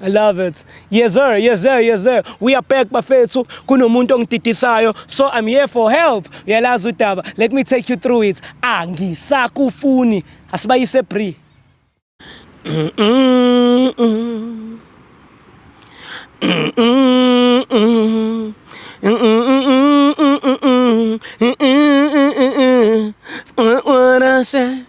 I love it. Yes sir, yes sir, yes sir. We are back bafethu. Kunomuntu ongididisayo. So I'm here for help. Uyalazi udaba. Let me take you through it. Angisakufuni. Asibayise Bree. What I said.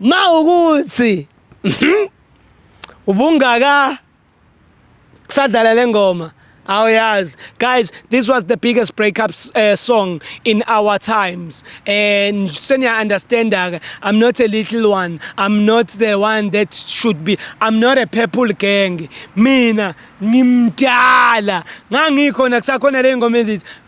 mawukuthi ubungaka kusadlala lengoma awuyazi guys this was the biggest breakup uh, eh, song in our times and senior understand that i'm not a little one i'm not the one that should be i'm not a purple gang mina ngimdala ngangikhona kusakhona le ngoma ezithi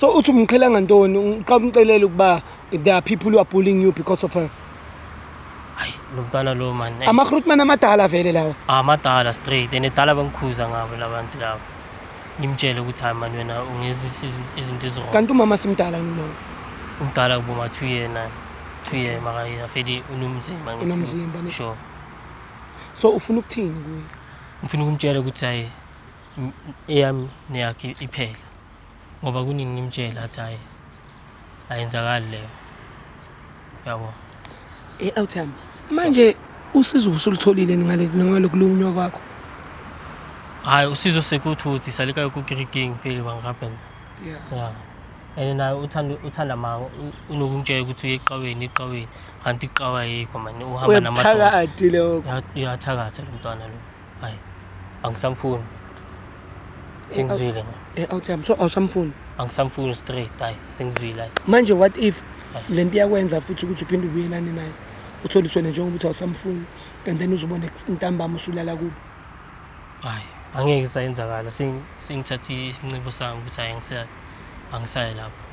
so uthi umqhela ngantoni uqaba umcelela ukuba there are people who are bullying you because of her hayi lo mntwana lo mani amahrutman amadala vele lawa amadala straight and edala bangikhuza ngabo labantu labo ngimtshele ukuthi hayi mani wena ungezisa izinto ezirong kanti umama simdala nina umdala kuboma two year nani two year makayena feli unomzimba ngithi sure so ufuna ukuthini kuye ngifuna ukumtshela ukuthi hayi eyami neyakhe iphele ngoba kuningi ngimtshela athi hayi ayenzakali leyo yabo e outcome manje usizo usulutholile ngale ngale kulumunywa kwakho hayi usizo sekuthuthi salika ku greeting feel bangaben yeah yeah ene naye uthanda uthanda ma unokumtshela ukuthi uye eqaweni eqaweni kanti iqawa yikho manje uhamba namadoda uyathakatha lo mntwana lo hayi angisamfuni sengizwile eh awuthi I'm so awusamfuni angisamfuni straight hayi sengizwile hayi manje what if le nto iyakwenza futhi ukuthi uphinde ubuyelane naye uthole iswene njengoba uthi awusamfuni and then uzobona intambama usulala kubo hayi angeke isayenzakala sengithathe isinxibo sami ukuthi hayi angisayi angisayi lapho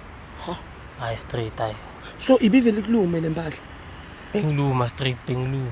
ha hayi straight hayi so ibivele kulume le mpahla bengiluma straight bengiluma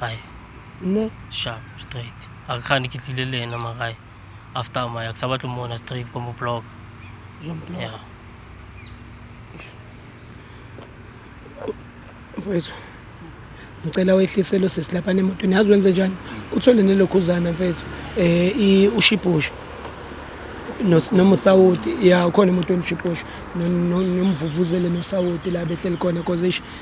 ai ne sharp straight a ke gane ke tlile le ena magae after maya ke sa batle mona straight ko mo block ya mfowethu ngicela wehlisele usisi lapha nemotweni yazi wenze njani uthole nelokhuzana mfethu um ushibhusho noma usawoti ya ukhona emotweni ushibhusho nomvuvuzele nosawoti la behleli khona cause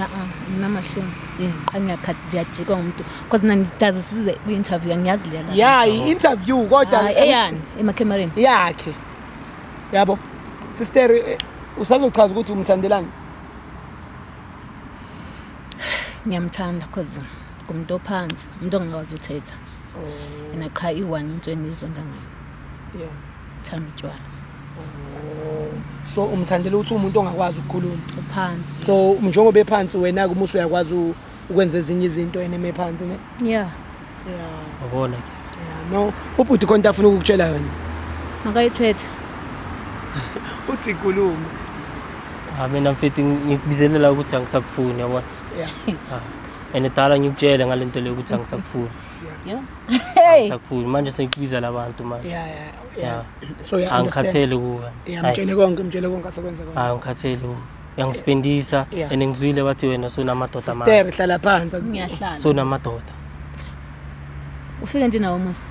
a-a nginamahloni Mm. qha ngiyakhathi ngiyajikwa ngumuntu because mna ngitaze size kwi-interview angiyazi leyala ya yi-interview kodwa Hayi, eyani emakhemareni yakhe yabo sister eh, usazochaza ukuthi umthandelani ngiyamthanda because ngumuntu ophansi umuntu ongakwazi uthetha yena qha i-one into engiyizonda ngayo Yeah. Thanda utshwala. Oh. So umthandela ukuthi umuntu ongakwazi ukukhuluma. Uphansi. So njengoba ephansi wena ke umusu uyakwazi ukwenza ezinye izinto yena emephansi ne? Yeah. Yeah. Ubona ke. Yeah. No, ubhuti konke afuna ukukutshela yona. Makayithethe. Uthi kuluma. Ah mina mfethu ngikubizelela ukuthi angisakufuni yabona. Yeah. Ah. And dala ngikutshele ngalento leyo ukuthi angisakufuni. Yeah. Hey. Sakhulu manje sengikubiza labantu manje. Yeah, yeah, yeah. Yeah. So yeah, angikhathele kuwe. Yeah, mtshele konke, mtshele konke asekwenza konke. Hayi ngikhathele kuwe. Uyangisipendisa Yeah. and ngizwile bathi wena sunamadoda manje. Sister, hlala phansi. Ngiyahlala. Sunamadoda. Ufike nje nawo Musa.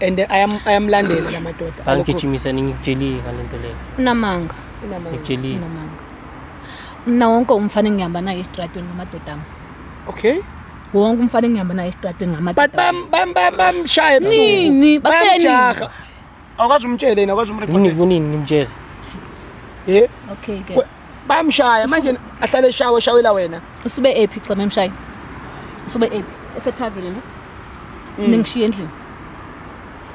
And I am I am landela la madoda. Alokhu Angigijimisa ningikujelile ngalento leyo. Unamanga. unamanga. Ngikujelile. Unamanga. Mina wonke umfana engihamba naye estradweni ngamadoda ami. Okay. wonke umfana engihamba naye esitratweni ngama but bam bam bam bamshaye nini bakushaya nini bamjaha awukazi umtshele yena awukazi umreporter nini kunini ngimtshele eh okay ke bamshaya manje ahlale eshawe shawela wena usube ephi xa memshaye usube ephi esethavile ne mm. ningishiye endlini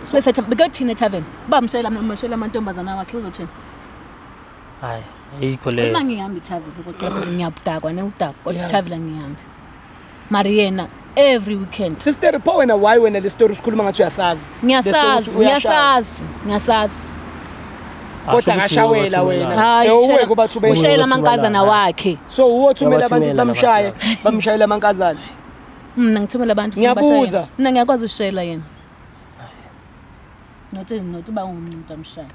usube setha bekuthina ethaveni bamshayela amashayela amantombazana wakhe uzothini hayi ayikho leyo uma ngihambi ithavile kodwa ngiyabudakwa ne udakwa kodwa ithavile ngihambi mari yena every weekend sister pho wena why wena le story sikhuluma ngathi uyasazi ngiyasazi ngiyasazi ngiyasazi kodwa ngashawela wena ewuwe kuba thubela ushayela amankazana wakhe so uwothumela abantu bamshaye bamshayela amankazana mina ngithumela abantu ngiyabuza mina ngiyakwazi ushayela yena not not uba umuntu amshaya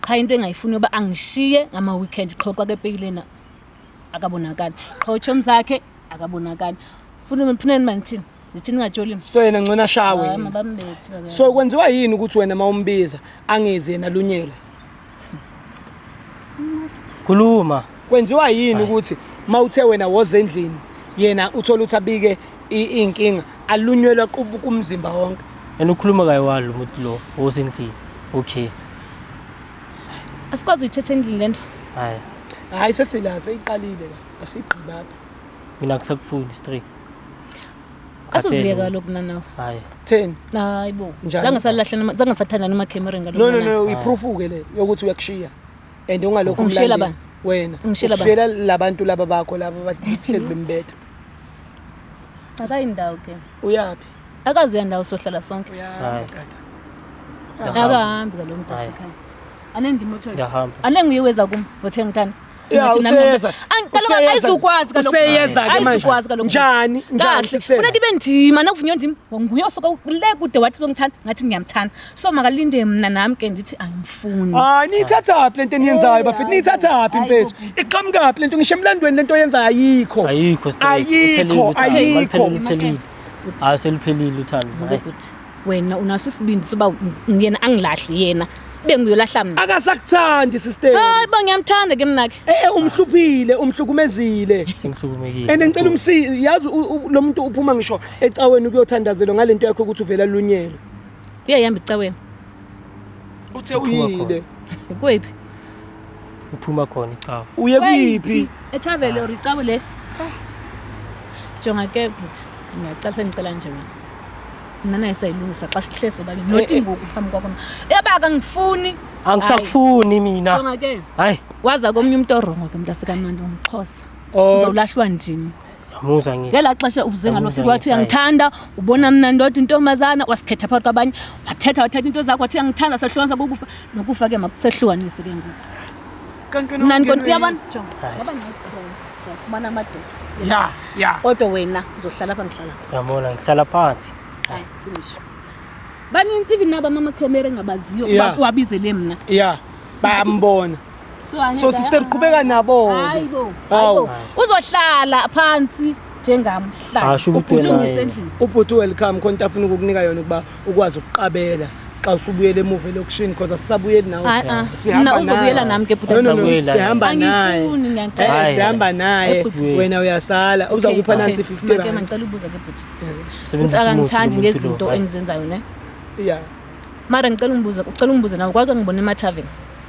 qha into engayifuni uba angishiye ngama weekend qhoxa kepeyilena akabonakali qha utshomi zakhe akabonakali funa phuna ni manithini ndithini ngatsholi mna so yena ngcona shawe Hayi, mabambethe baba. so kwenziwa yini ukuthi wena uma umbiza angezi yena lunyelwe khuluma kwenziwa yini ukuthi uma uthe wena woza endlini yena uthole ukuthi abike i- iy'nkinga alunyelwe aqubuka umzimba wonke and ukhuluma kayiwalo umuntu lo osendlini okay Asikwazi uyithetha endlini lento. Hayi. Hayi sesila seyiqalile la. Asigqiba apha. Mina ngisakufuni straight. Asuziyeka lokhu nanawe. Hayi. Theni? Hayi bo. Njani? Zange salahle noma zange sathanda noma camera ngalokho. No no nana. no, uyiproof ke le yokuthi uyakushiya. And ungalokho Ungishiyela umlandeli. Wena. Ungishiyela bani? Ushiyela labantu laba bakho laba abahlezi bembetha. Akayi ndawo ke. Uyaphi? akazi uya ndawo sohlala sonke Hayi. akahambi kaloku Hayi. mntasekhaya anendima otshoyo Ngiyahamba. anenguye weza kum wothenga utani Ya, Ngathi nami- useyeza. Ang- kaloku Useyeza. ayizukwazi kaloku. Useyeza ke manje. Ayizukwazi kaloku. Njani? Njani, Kahle. Sisela? funeka ibe ndima nakuvunywa ndim nguye osoka le kude wathi uzongithanda ngathi ngiyamthanda so makalinde mna nam ke ndithi angimfuni hayi niyithathaphi le nto eniyenzayo bafethu niyithathaphi mfethu iqhamukaphi le nto ngisho emlandweni le nto oyenzayo ayikho Ayikho straight. ayikho Uphelile, ayikho uphelile, uphelile. Bhuti. hayi seluphelile uthando Ngoke Hayi. bhuti wena unaso isibindi soba ng- yena angilahli yena ibe nguyolahla mna akasakuthandi sister hayi ba ngiyamthanda ke mnake e umhluphile umhlukumezile sengihlukumekile and ngicela umsizi yazi u- u- lo muntu uphuma ngisho ecaweni ukuyothandazelwa ngale nto yakho ukuthi uvela lunyelwe uyayihamba icaweni uthe uyile kwephi uphuma khona icawu uye kuyiphi ethavele or icawu le jonga ke bhuti ngiyacela sengicela nje wena mna naye sayilungisa xa sihlezi sobabini Eh, not eh. ngoku phambi kwakho ebaka ngifuni angisakufuni mina jonga ke hayi waza komnye umntu orongo ke mntu asikamnandi umxhosa Oh. uzawulahlwa ndini Ngiyamuza ngi. ngela xesha uze ngalo fika wathi uyangithanda ubona mna ndodwa intombazana wasikhetha phakathi kwabanye wathetha wathatha into zakho wathi uyangithanda sehlukanisa kokufa nokufa ke makusehlukanise ke ngoku Kanti wena mna ndikona ungenwe uyabona yini? jonga Hayi. ngoba ndinefriend ndiyafumana amadoda Ya, ya. kodwa wena uzohlala apha ngihlala apha Yabona ngihlala phansi. hayi finish banintsi even naba mama camera engabaziyo Yeah. uba uwabizele mna Ya. Bayambona. so sister qhubeka nabo hayi bo hayi uzohlala phansi njengam hlala ukulungisa endlini ubhuti welcome khona into afuna ukukunika yona ukuba ukwazi ukuqabela xa usubuyela emuva elokishini because asisabuyeli nawe ah, ah. sihamba uzobuyela nami ke bhuti sihamba naye eh, sihamba naye wena uyasala uza kupha nansi 50 rand ngicela ubuza ke bhuti uthi akangithandi ngezinto engizenzayo ne yeah mara ngicela ungibuze ucela ungibuze nawe kwake ngibona emataveni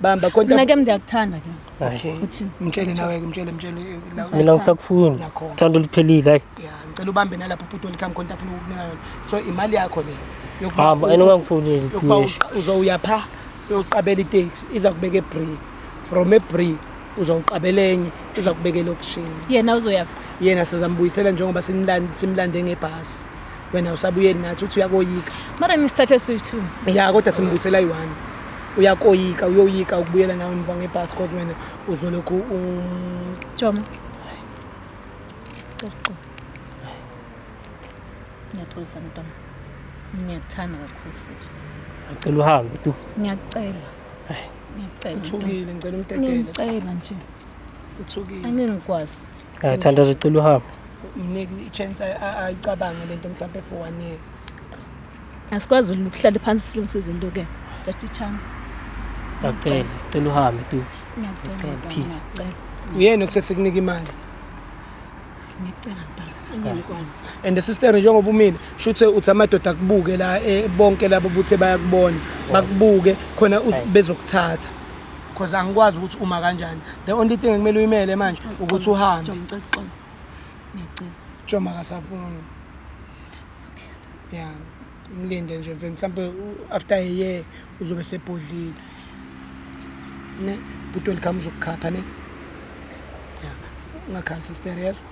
bamba konta mina ke ngiyakuthanda ke okay uthini mtshele nawe ke mtshele mtshele eh, mina ngisakufuni thando liphelile hayi yeah ngicela ubambe nalapho uputo likhami konta afuna ukukunika yona so imali yakho le hamba ah, ayinokangifuni yokuba uzoya pha uyoqabela itaxi iza kubeka ebree from ebree uzawuqabela enye iza kubeka elokishini yena uzoya yena sizambuyisela njengoba simlande ngebhasi wena usabuyeli nathi uthi uyakoyika mara nisithathe soyi-two ya kodwa simbuyisela yi-one uyakoyika uyoyika ukubuyela nawe emva ngebhasi kodwa wena uzolokhu um, Joma. Coco. Ngiyaxolisa mntwana. Ngiyakuthanda kakhulu futhi. Ngicela uhambe tu. Ngiyacela. Ai. Ngiyacela. uthukile ngicela umdedele Ngiyacela nje. uthukile Angeke ngikwazi. Ngathanda uzocela uhambe. mnike i-chance a- a- ayicabange le nto mhlawumpe for one year asikwazi ukuhlala phansi silungise izinto ke just a chance ngiyacela sicela uhambe tu ngiyacela peace uyena okusethe kunika imali ngiyacela mntana ngiyakwazi and the sister njengoba umile shuthe uthi amadoda akubuke la eh, bonke labo buthe bayakubona bakubuke khona bezokuthatha because angikwazi ukuthi uma kanjani the only thing ekumele uyimele manje ukuthi uhambe ngiyacela Joma kasafuni ya mlinde nje mfethu mhlawumpe u- after a year uzobe sebhodlile ne bhuti welcome uzokukhapha ne ya ungakhali sister yezwa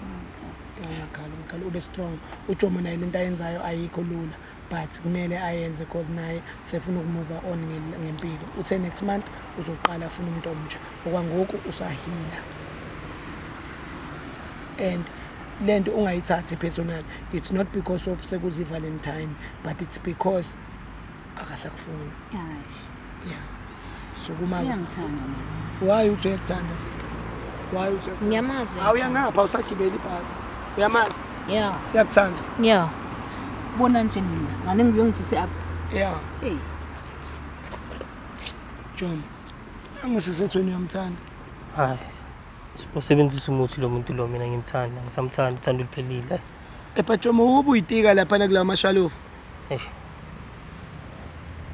Ya, ungakhali ungakhali ube strong ujomo naye lento ayenzayo ayikho lula but kumele ayenze cause naye sefuna ukumuva on nge- ngempilo uthe next month uzoqala afuna umuntu omtsha okwangoku usahila and lento ungayithathi personal it's not because of sekuzi valentine but it's because akasakufuni yeah sukuma uyangithanda why uthi uyakuthanda why uthi ngiyamazi awuyangapha usagibela ibhasi uyamazi yeah uyakuthanda yeah bona nje mina ngane ngiyongizise up yeah hey John angisisethweni uyamthanda hayi Usebenzisa umuthi lo muntu lo mina ngimthanda, ngisamthanda uthanda uluphelile. Ephathoma wobu uyitika lapha nakulawa mashalofu. Eish.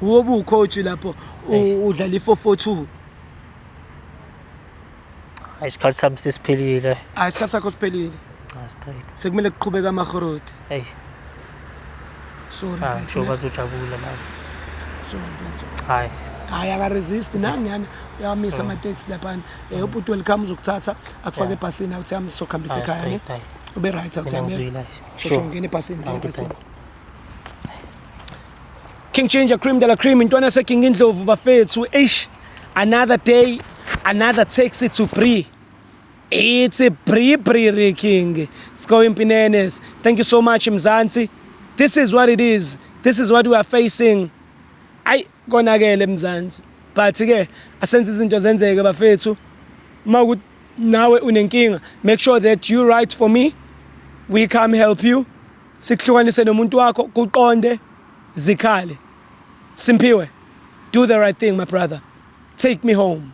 Wobu ucoach lapho Eish. u- udlala i442. Hayi isikhathi sami sesiphelile. Hayi isikhathi sakho siphelile. Ah straight. Sekumele kuqhubeka amahoroti. Hey. sorry cha mfethu, njengoba zojabula la sorry mfethu hayi hayi akaresist nangiyana uyawamisa amateksi laphana um ubhuti welcome uzokuthatha akufake Yeah. ebhasini awuthi yami sokuhambisa Hayi, ekhaya ne straight, hayi. ube right awuthi Mina yami ngizwile, hayi. shosho Sure. ngena ebhasini ngena Angiphe. ebhasini King Ginger Cream de la Cream intwana yase King Indlovu bafethu eish another day another taxi to Bree It's a Bri Bri King. It's going Pinenes. Thank you so much, Mzansi. This is what it is. This is what we are facing. Ayi konakele Mzansi. But ke asenze izinto zenzeke bafethu. Uma ukuthi nawe unenkinga, make sure that you write for me. We come help you. Sikuhlukanise nomuntu wakho kuqonde zikhale. Simpiwe. Do the right thing, my brother. Take me home.